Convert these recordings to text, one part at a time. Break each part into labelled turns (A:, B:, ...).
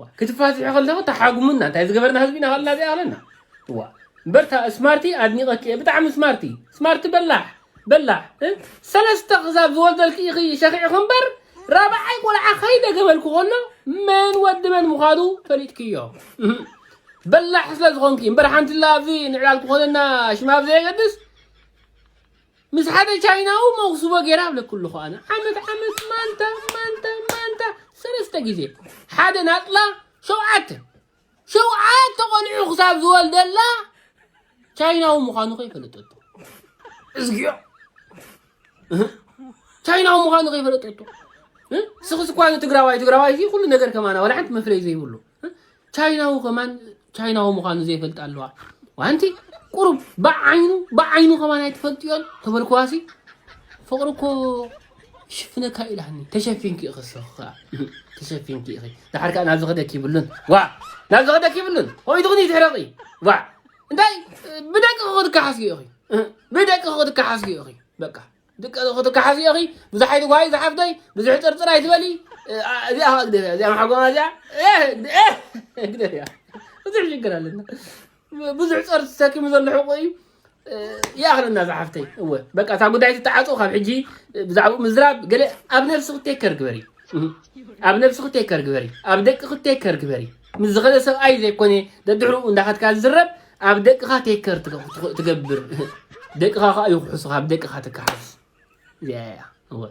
A: ዋእ ክትፋትሒ ከለኺ ተሓጉሙና እንታይ ዝገበርና ህዝቢ ኢና ከለና እዚኣ ከለና ዋእ እምበር እታ ስማርቲ ኣድኒቐኪ እየ ብጣዕሚ ስማርቲ ስማርቲ በላሕ በላሕ ሰለስተ ክሳብ ዝወልደልኪ ኢኺ ሸኺዕኺ እምበር ራብዓይ ቆልዓ ከይደገመልኩ ከሎ መን ወዲ መን ምዃኑ ፈሊጥክዮ በላሕ ስለ ዝኾንኪ እምበር ሓንቲላ ኣብዚ ንዕላል ክኾነና ሽማ ብዘየገድስ ምስ ሓደ ቻይናዊ መኹስቦ ገይረ ኣብለኪ ኣለኹ ኣነ ዓመት ዓመት ማንታ ማንታ ማንታ ሰለስተ ግዜ ሓደ ናፅላ ሸውዓተ ሸውዓተ ቆልዑ ክሳብ ዝወልደላ ቻይናዊ ምዃኑ ከይፈለጠቶ እዝግዮ ቻይናዊ ምዃኑ ከይፈለጠቶ ስኽስ እኳ ትግራዋይ ትግራዋይ ኩሉ ነገር ከማና ዋላ ሓንቲ መፍለይ ዘይብሉ ቻይናዊ ከማን ቻይናዊ ምዃኑ ዘይፈልጥ ኣለዋ ዋንቲ ቁሩብ ብዓይኑ ብዓይኑ ከማን ኣይትፈልጥዮን ተበልክዋሲ ፍቕሪ እኮ ሽፍነካ ኢላኒ ተሸፊንኪ ኢኺ ሰኽ ከዓ ተሸፊንኪ ኢኺ ድሓር ከዓ ናብ ዝኸደክ ይብሉን ዋ ናብ ዝኸደክ ይብሉን ኮይቱ ግን ይትሕረቂ ዋ እንታይ ብደቂ ክኽትከሓስጊ ኢኺ ብደቂ ክኽትከሓስጊ ኢኺ በቃ ድቀ ክትከሓሲ ኢኺ ብዙሕ ኣይትጓይ ዝሓፍተይ ብዙሕ ጥርጥር ኣይትበሊ እዚኣ ከዓ ግደፍያ እዚኣ መሓጎማ እዚኣ ግደፍያ ብዙሕ ሽግር ኣለና ብዙሕ ፀር ሰኪሙ ዘሎ ሕቁ እዩ ይኣኽለና ዝሓፍተይ እወ በቃ እታ ጉዳይ ትተዓፁ ካብ ሕጂ ብዛዕባኡ ምዝራብ ገለ ኣብ ነብሲ ክቴከር ግበሪ ኣብ ነብሲ ክቴከር ግበሪ ኣብ ደቂ ክቴከር ግበሪ ምስ ዝኸደ ሰብኣይ ዘይኮነ ደድሕርኡ እንዳኸድካ ዝዝረብ ኣብ ደቅኻ ቴከር ትገብር ደቅኻ ከዓ ይኩሕሱኻ ኣብ ደቅኻ ትከሓስ እዚኣ እያ እወ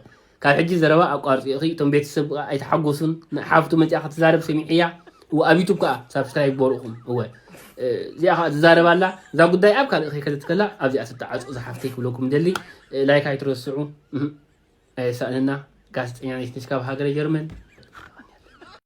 A: ካብ ሕጂ ዘረባ ኣቋርፂ እኺ እቶም ቤተሰብ ከዓ ኣይተሓጎሱን ሓፍቱ መፅኣ ክትዛረብ ሰሚዐያ እወ ኣብ ዩቱብ ከዓ ሳብስክራይብ በርኡኹም እወ እዚኣ ከዓ ትዛረብ ኣላ እዛ ጉዳይ ኣብ ካልእ ከይከደት ከላ ኣብዚኣ ትተዓፆ ዝሓፍተይ ክብለኩም ደሊ ላይክ ኣይትረስዑ ኣየሳእንና ጋዜጠኛ ነሽ ካብ ሃገረ ጀርመን